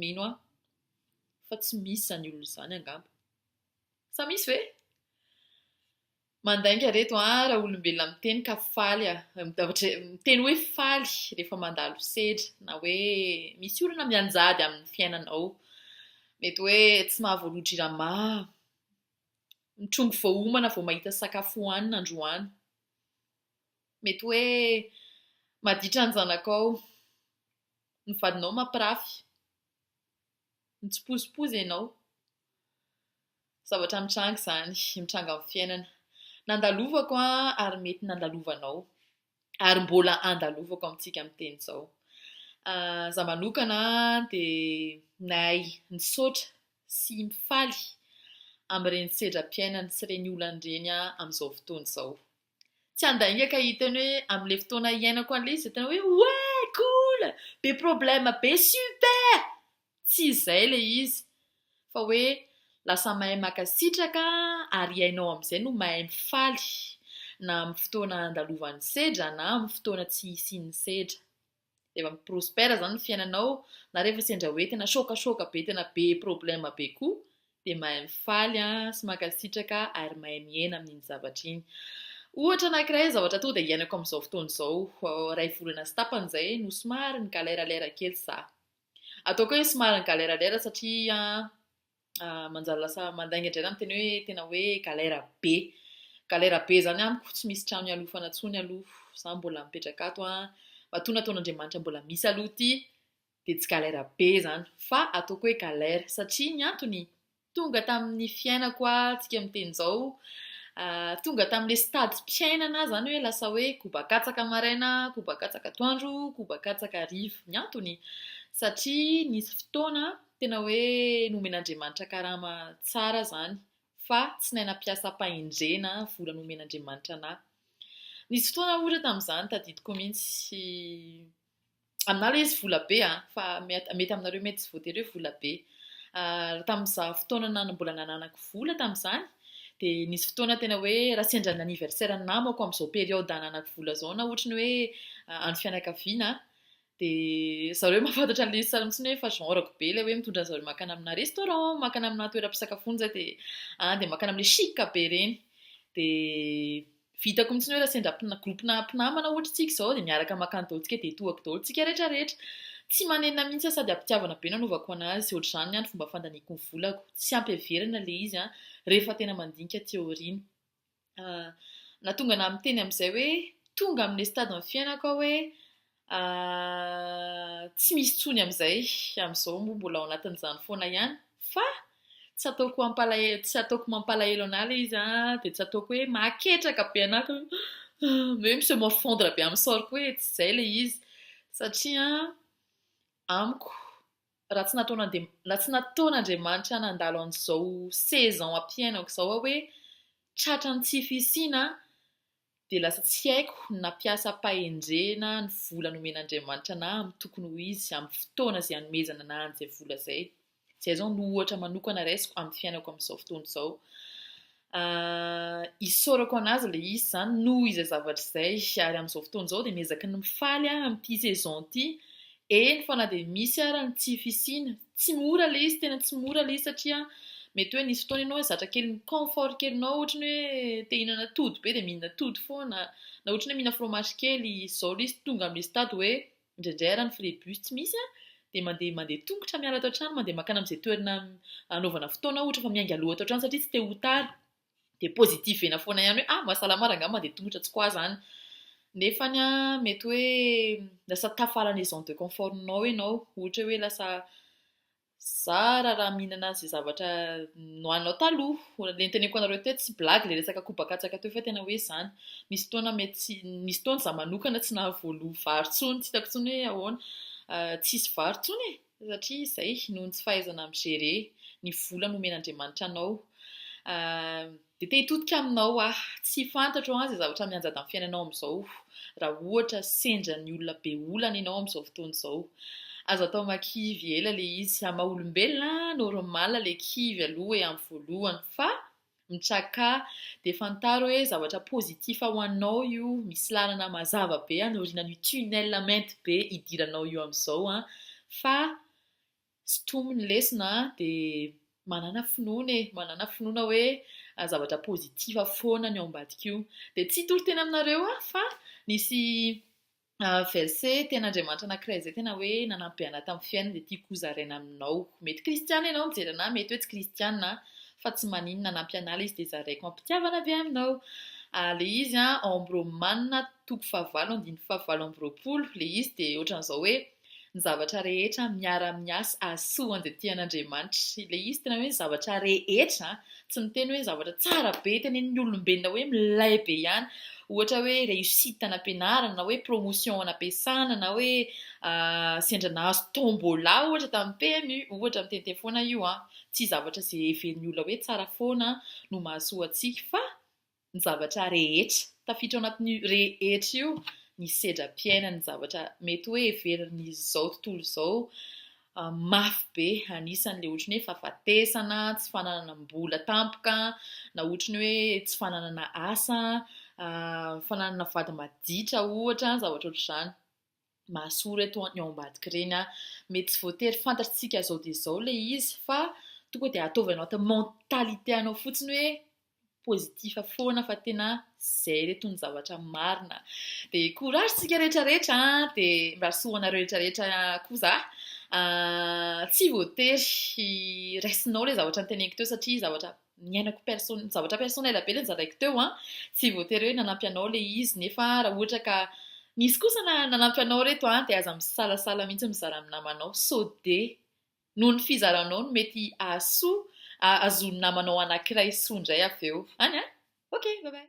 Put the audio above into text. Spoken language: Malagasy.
Mino aho fa tsy misy izany olona izany angamba. Sa misy ve? Mandainga ireto an! Raha olombelona miteny ka faly miteny hoe faly rehefa mandalo sedra na hoe misy olana mianjady amin'ny fiainanao. Mety hoe tsy mahavoaloha jirama, mitrongy vao homana vao mahita sakafo hohanina androany. Mety hoe maditra ny zanakao. ny vadinao mampirafy, mitsipozipozy ianao, zavatra mitranga izany, mitranga amin'ny fiainana, nandalovako ary mety nandalovanao ary mbola handalovako amintsika miteny izao, za manokana dia nahay nisaotra sy mifaly amin'ireny sedram-piainana sy ireny olana ireny amin'izao fotoana izao. tsy handaingaka hitany hoe amin'ilay fotoana hiainako an'ilay izy tena hoe ouais cool be problème be super tsy izay ilay izy fa hoe lasa mahay mankasitraka ary hiainao amin'izay no mahay mifaly na amin'ny fotoana andalovan'ny sedra na amin'ny fotoana tsy hisian'ny sedra Rehefa mi prosper zany ny fiainanao na rehefa sendra hoe tena choc choc be tena be problème be koa dia mahay mifaly an sy mankasitraka ary mahay mihena amin'iny zavatra iny. Ohatra anankiray zavatra tonga dia hiainako amin'izao fotoana izao iray volana sy tapany izay no somary nigaleralera kely za. Ataoko hoe somary nigaleralera satria manjary lasa mandainga indray na miteny hoe tena hoe galère be galère be zany amiko tsy misy trano ialofana intsony aloha za mbola mipetraka ato a matoa nataon'Andriamanitra mbola misy aloha ity de tsy galère be zany fa ataoko hoe galère satria ny antony tonga tamin'ny fiainako a tsika miteny zao ah, tonga tamin'le stade mpiainana zany hoe lasa hoe kobakatsaka maraina kobakatsaka toandro kobakatsaka rivo ny antony satria nisy fotoana Tena hoe nomen'Andriamanitra karama tsara izany fa tsy nahy nampiasa am-pahendrena vola nomen'Andriamanitra anahy. Nisy fotoana ohatra tamin'izany tadidiko mihitsy aminà ilay izy vola be an, fa mety aminareo mety tsy voatery hoe vola be. Ary tamin'izaho fotoana mbola nananako vola tamin'izany dia nisy fotoana tena hoe raha sendra ny anniversaire-n'ny namako amin'izao periode ananako vola izao na ohatra ny hoe andro fianakaviana De zareo mahafantatra an'ilay izy tsara mihitsy hoe efa genre ko be ilay hoe mitondra an'zareo makany amina restaurant, makany amina toeram-pisakafoana zay de any de makany amle chic be ireny. De vitako mihitsy hoe raha sendra mpina- groupe-na mpinamana ohatra isika izao de miaraka makany daholo isika de tohako daholo isika rehetra rehetra. Tsy manenina mihitsy aho sady am-pitiavana be no anaovako anazy, ohatr'izany ny ahy ny fomba fandaniako ny volako, tsy ampiheverana ilay izy an, rehefa tena mandinika aty aoriana. ah, na tonga na miteny amin'izay hoe tonga amin'ny stade amin'ny fiainako aho hoe ah, tsy misy tsony amin'izay amin'izao moa mbola ao anatin'izany foana ihany fa tsy ataoko hampalahelo tsy ataoko mampalahelo anà le izy ah, dia tsy ataoko hoe mahaketraka be anà hoe ah, mi se morfondre be amin'ny saoriko hoe tsy izay le izy satria amiko Raha tsy nataon'Andriam- raha tsy nataon'Andriamanitra nandalo an'izao saison ampiainako izao aho hoe tratra ny tsy fisiana an, dia lasa tsy haiko ny nampiasa am-pahendrena ny vola nomen'Andriamanitra anah amin'ny tokony ho izy, amin'ny fotoana izay anomezana anah an'izay vola izay. Izay izao no ohatra manokana raisiko amin'ny fiainako amin'izao fotoana izao. Ahh isaorako anazy le izy zany noho izay zavatra izay ary amin'izao fotoana izao dia miezaky ny mifaly aho amin'ity saison ity eny fa na dia misy ara ny tsy fisiana tsy mora le izy tena tsy mora le izy satria mety hoe nisy fotoana ianao zatra kely ny confort kelinao ohatran'ny hoe te hihinana atody be dia mihinana atody foana na ohatran'ny hoe mihinana fromage kely izao le izy tonga amin'le stade hoe Indraindray ary ny Flixbus tsy misy an, dia mandeha mandeha tongotra miala ato an-trano mandeha mankany amin'izay toerana hanaovana fotoana aho ohatra fa miainga aloha ato an-trano satria tsy te ho tara dia positivena foana ihany hoe ah mahasalama ary angaha mandeha tongotra tsy quoi zany nefany an mety hoe lasa tafala ny zone de confort-nao ianao ohatra hoe lasa Zara raha mihinana izay zavatra nohaninao taloha. Ilay noteneniko anareo teo tsy blagy ilay resaka koba katsaka teo fa tena hoe izany. Misy fotoana mety tsy, nisy fotoana izaho manokana tsy nahavoaloa vary intsony, tsy hitako intsony hoe ahoana. Tsy hisy vary intsony e! satria izay, noho ny tsy fahaizana mi-gérer ny vola nomen'Andriamanitra anao. Dia te hitodika aminao aho. Tsy fantatro an izay zavatra mianjady amin'ny fiainanao amin'izao, raha ohatra sendra ny olona be olana ianao amin'izao fotoana izao. Aza atao makivy ela ilay izy. Amin'ny maha olombelona an, normal ilay kivy aloha e amin'ny voalohany fa mitraka dia fantaro hoe zavatra positif ho anao io, misy lalana mazava be any aorianan'io tunnel mainty be idiranao io amin'izao an, fa Sintomy ny lesona a, dia manana finoana e, manana finoana hoe zavatra positif foana ny ao ambadika io. Dia tsy hitory tena aminareo aho fa nisy verset tena Andriamanitra anankiray izay tena hoe nanampy ana tamin'ny fiainana dia tiako ho zaraina aminao. Mety kristiana ianao mijery ana, mety hoe tsy kristiana an, fa tsy manin, nanampy ana ilay izy dia zaraiko am-pitiavana avy aminao. Ilay izy an, ao amin'ny Romana toko fahavalo andininy fahavalo amby roapolo, ilay izy dia ohatran'izao hoe, ny zavatra rehetra miara miasa ahasoa an'izay tian'Andriamanitra. Ilay izy tena hoe ny zavatra rehetra, tsy miteny hoe ny zavatra tsara be tenenin'ny olombelona hoe milay be ihany, ohatra hoe réussite any am-pianarana na hoe promotion any am-piasana na hoe sendra nahazo tombola ohatra tamin'ny PMU, ohatra miteniteny foana io an, tsy zavatra izay heverin'ny olona hoe tsara foana no mahasoa antsika fa ny zavatra rehetra, tafiditra ao anatin'io re hetra io ny sedram-piainany, ny zavatra mety hoe heverin'izao tontolo izao mafy be, anisan'ilay ohatra ny hoe fahafatesana, tsy fananam-bola tampoka, na ohatra ny hoe tsy fananana asa, fananana vady maditra ohatra, zavatra ohatr'izany. Mahasolo eto an ny ao ambadika ireny an! Mety tsy voatery fantatr'tsika zao dia zao ilay izy fa tonga dia ataovy anaty mentalité anao fotsiny hoe positif foana fa tena zay ireto ny zavatra marina! Dia courage tsika rehetra rehetra an! Dia mirary soa ho anareo rehetra rehetra koa za! Tsy voatery raisinao ilay zavatra noteneniko teo satria zavatra ny ainako person zavatra personnel be le nozaraiko teo an, tsy voatery hoe nanampy anao le izy nefa raha ohatra ka nisy kosa nanampy anao reto an dia aza misalasala mihitsy mizara amin'ny namanao sode noho ny fizaranao no mety ahasoa ahazoan'ny namanao anankiray soa indray avy eo any an! ok bye bye.